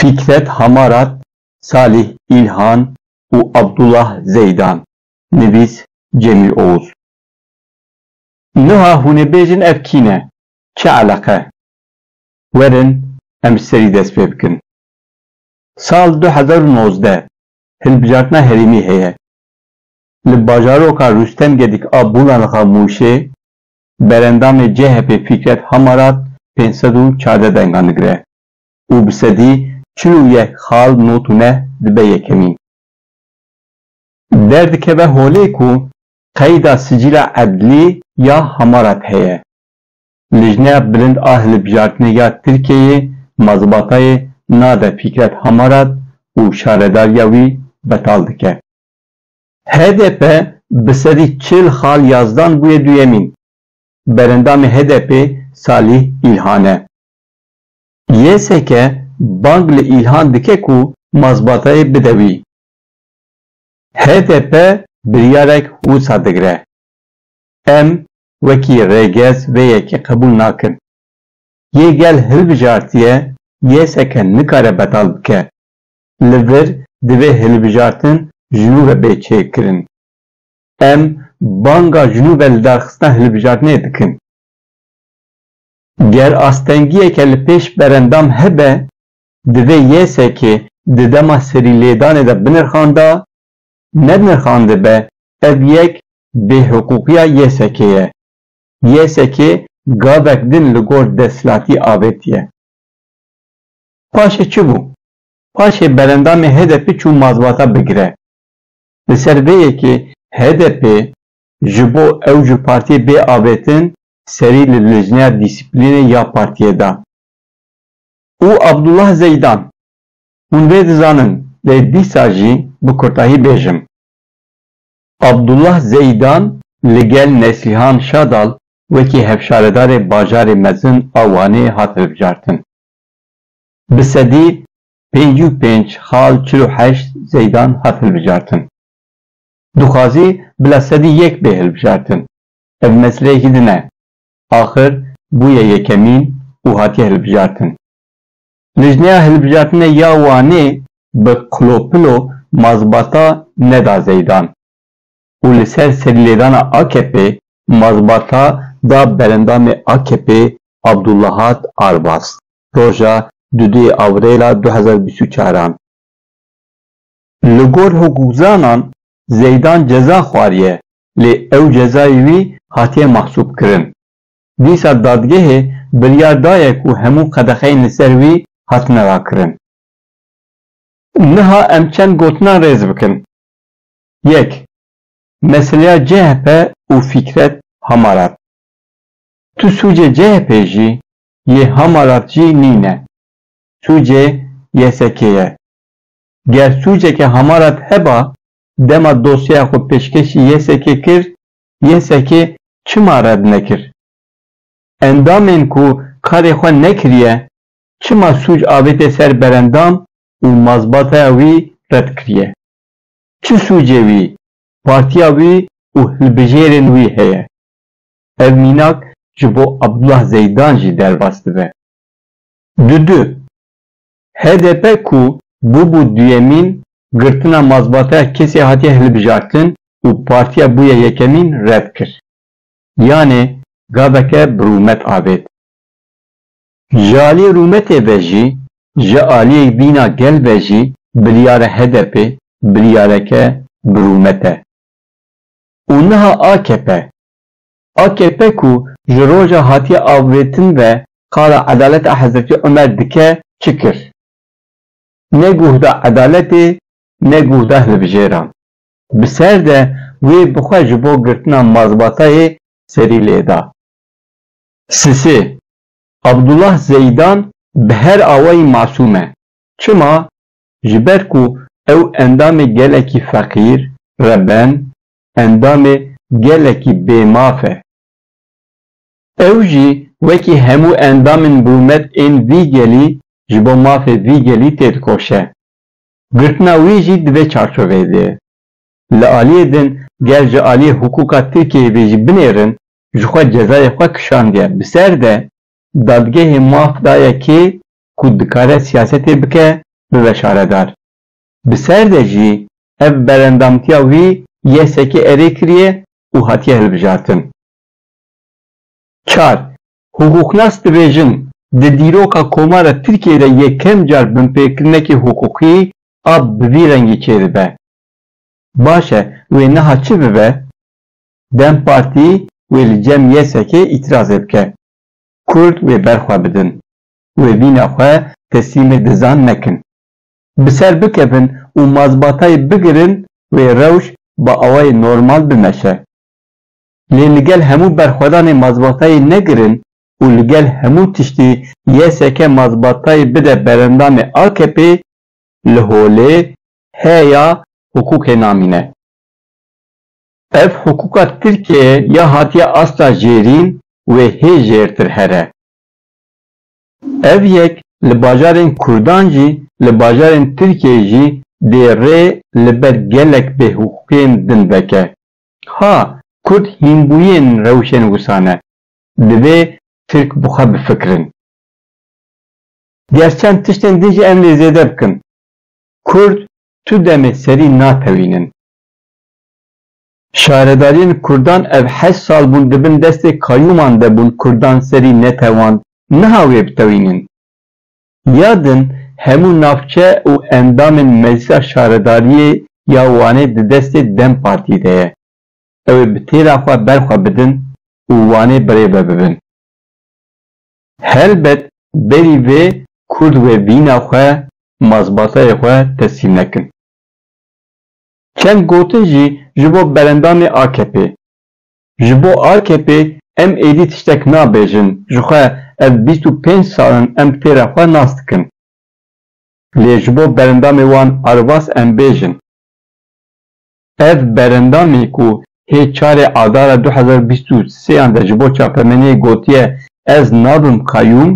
Fikret Hamarat, Salîh Îlhan û Abdullah Zeydan, nivîs Cemîl Oğuz. Niha hûn ê bêjin ev kî ne, çi eleqe? Werin em ji serî dest pê bikin. Sal du hezar û nozdeh hilbijartina herêmî heye. Li bajaroka Rûstem Gedik a Bûlanxa Mûşê berendamê CHP'ê Fîkret Hamarat pênc sed û çardeh dengan digire û bi sedî çil û yek xal not û neh dibe yekemîn. Derdikeve holê ku qeyda sicîla edlî ya Hamarat heye. Lijneya Bilind a Hilbijartinê ya Tirkiyeyê mazbatayê nade Fîkret Hamarat û şaredariya wî betal dike. Hdp bi sedî çil xal yazdan bûye duyemîn. Berendamê HDP'ê Salîh Îlhan e. YSK bang li Îlhan dike ku mazbatayê bide wî. Hdp biryarek wisa digre. Em wekî rêgez vê yekê qebûl nakin. Yê gel hilbijartiye yêseke nikare betal bike. Li vir divê hilbijartin ji nû ve bê çêkirin. Em banga ji nû ve lidarxistina hilbijartinê dikin. Ger astengiyeke li pêş berendam hebe, divê yêsekê di dema serîlêdanê de binirxanda Nenirxandibe ev yek bêhiqûqiya YSK ye. YSK gavek din li gor desthilatî avêtiye. Paşê çi bû? Paşê berendamê HDP'ê çû mazbata bigire. Li ser vê yekê HDP ji bo ew ji partiyê bê avêtin serî li Lijneya Dîsîplînê ya partiyê da û Abdullah Zeydan Hûn vê dizanin lê dîsa jî bi kurtahî bêjim. Abdullah Zeydan li gel Neslihan Şadal wekî hevşaredarê bajarê mezin a Wanê hat hilbijartin. Bi sedî pêncî û pênc xal çil û heşt Zeydan hat hilbijartin. Dixwazî bila sedî yek bê hilbijartin. Ev meseleyekî din e. Axir bûye yekemîn û hatiye hilbijartin. Lijneya hilbijartinê ya Wanê bi qlopilo mazbata neda Zeydan û li ser serîlêdana AKP'ê mazbata da berendamê AKP'ê Abdulahad Arbas roja du dê Avrêla du hezar û bîst û çar an. Li gor hukukzanan Zeydan ceza xwariye lê ew cezayê wî hatiye mahsûbkirin. dîsa dadgehê biryar daye ku hemû qedexeyên li ser wî hatine rakirin. Niha em çend gotinan rêz bikin. Yek, meseleya CHP û Fîkret Hamarat. Tu sûcê CHP'ê jî yê Hamarat jî nîne. Sûcê YSK'ê ye. Ger sûceke Hamarat heba dema dosyeya xwe pêşkêşî YSK'ê kir YSK çima red nekir? Endamên ku karê xwe nekiriye çima sûc avêtê ser berendam û mazbataya wî red kiriye? Çi sûcê wî, partiya wî û hilbijêrên wî heye? Ev mînak ji bo Abdullah Zeydan jî derbas dibe. Dudu, HDP ku bûbû duyemîn, girtina mazbateya kesê hatiye hilbijartin û partiya bûye yekemîn red kir. Yanê gaveke bi rûmet avêt. Ji aliyê rûmetê ve jî, ji aliyê bîna gel ve jî biryara HDP'ê biryareke bi rûmet e. Û niha akp Akp ku ji roja hatiye avêtin ve qala edaleta Hezretî Omer dike çi kir? Ne guh da edaletê ne guh da hilbijêran. Bi ser de wê bi xwe ji bo girtina mazbatayê serî lê da. Sisê, Abdullah Zeidan bi her awayî masûm e. Çima? Ji ber ku ew endamê gelekî feqîr, reben, endamê gelekî bêmaf e. Ew jî wekî hemû endamên birûmet ên vî gelî ji bo mafê vî gelî têdikoşe. Girtina wî jî di vê çarçoveyê de ye. Li aliyê din ger ji aliyê hukûka Tirkiyeyê vê jî binêrin, ji xwe cezayê xwe kişandiye. Bi ser de dadgehê maf daye kê ku dikare siyasetê bike bibe şaredar. Bi ser de jî ev berendamtiya wî YSK'ê erê kiriye û hatiye hilbijartin. Çar, Hiqûqnas dibêjin, di dîroka Komara Tirkiyeyê de yekem car binpêkirinekî hiqûqî a bi vî rengî çêdibe. Baş e wê niha çi bibe? Dem Partî wê li cem YSK'ê îtîrazê bike. Kurd wê ber xwe bidin. Wê vîna xwe teslîmê dizan nekin. bi ser bikevin û mazbatayê bigirin wê rewş bi awayê normal bimeşe. Lê li gel hemû berxwedanê mazbatayê negirin û li gel hemû tiştî YSK mazbatayê bide berendanê AKP'ê li holê heya hiqûqê namîne. Ev hiqûqa Tirkiyeyê ya hatiye asta jêrîn wê hê jêrtir here. Ev yek li bajarên Kurdan jî li bajarên Tirkiyeyê jî dê rê li ber gelek bêhiqûqiyên din veke. Ha, Kurd hînbûyên rewşên wisa ne. Divê Tirk bi xwe bifikirin. Ger çend tiştên din jî em lê zêde bikin, Kurd tu demê serî natewînin. Şaredariyên kurdan ev heşt sal bûn di bin destê kayûman de bûn kurdan serî netewand niha wê bitewînin. Ya din hemû navçe û endamên Meclisa Şaredariyê ya Wanê di destê dem Partî de ye. Ew ê bi têra xwe ber xwe bidin û Wanê birêve bibin. Helbet berî vê kurd wê vîna xwe, mazbatayê xwe teslîm nekin. Çend gotin jî ji bo berendanê AKP'ê. Ji bo AKP'ê em êdî tiştek nabêjin, jixwe ev bîst û pênc sal in em tê re xwe nas dikin. Lê ji bo berendamê wan Arvas em bêjin. Ev berendamê ku hê çarê adara du hezar û bîst û sêyan de ji bo çapemeniyê gotiye ez nabim qayûm,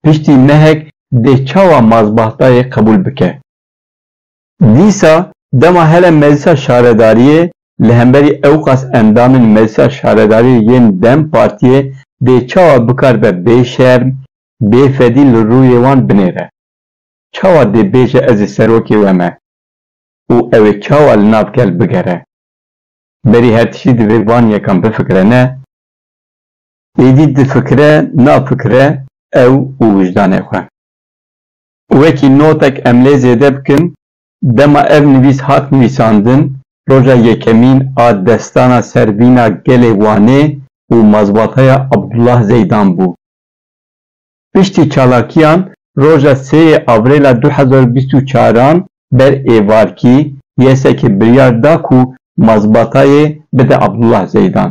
piştî mehek dê çawa mazbahtayê qebûl bike? Dîsa dema hele Meclisa Şaredariyê li hemberî ewqas endamên Meclisa Şaredariyê yên dem Partiyê dê çawa bikar be bêşerm, bêfedî li rûyê wan binêre? Çawa dê bêje ez ê serokê we me? Û ew ê çawa li nav gel bigere? Berî her tiştî divê van yekan bifikire ne? Êdî difikire nafikire ew û wijdanê xwe. Wekî notek em lê zêde bikin, dema ev nivîs hat nivîsandin, roja yekemîn a destana ser vîna gelê Wanê û mazbataya Abdullah Zeydan bû. Piştî çalakiyan roja sê yê Avrêla du hezar û bîst û çar an ber êvarkî YSK biryar da ku mazbatayê bide Abdullah Zeydan.